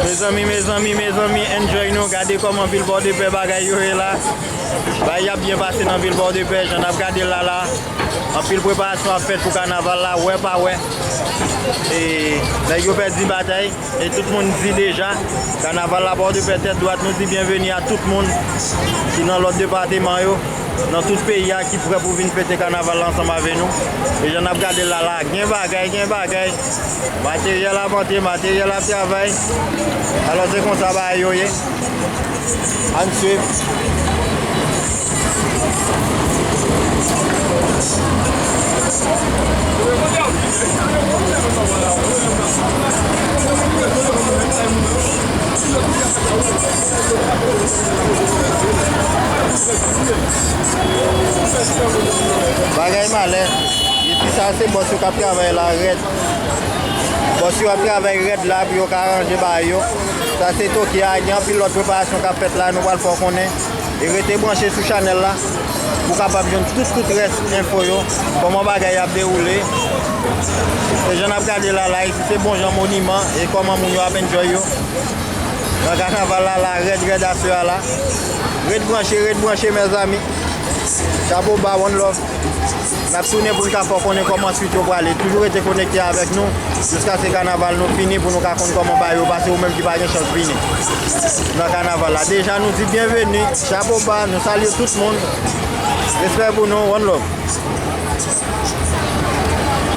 Mezanmi mezanmi mezanmi enjoy nou gade koman vil pòdepè bagay yo ye la bagay yo ap byen pase nan vil pòdepè jan nap gadel la la anpil preparasyon ap fèt pou kanaval la wè pa wè e nèg yo pèdi batay e tout moun di deja kanaval la pòdepè tèt dwat nou di byenveni a tout moun ki nan lòt depateman yo nan tout peyi a ki prè pou vin fete kanaval la ansanm avè nou e jan nap gadel la la gen bagay gen bagay Materyèl ap antre, materyèl ap travay. Alò se konsa bagay yo ye. An swiv. Bagay malè. Depi sa se bòs yo kap travay la rèd. Bòs yo ap travay rèd la pou yo ka ranje ba yo. Sa se Toki a, gen anpil lòt preparasyon kap fèt la nou pral fè w konnen. E rete branche sou chanèl la pou kapab jwenn tout tout rès enfo yo, kòman bagay yo ap dewoule. Se jan nap gade la la, isi se bon jan moniman e kòman moun yo ap enjoy yo. Nan kanaval la la rèd rèd aswè a la. Ret branche, ret branche mèzami. Chapo ba one love. Nap tounen pou n ka fè w konnen kòman swit yo prale. Toujou rete konekte avèk nou jiskaske kanaval nou fini pou nou ka konn kòman bagay yo pase ou menm ki pa gen chans vini nan kanaval la. Deja nou di byenveni, chapo ba, nou salye tout moun. Respè pou nou, one love.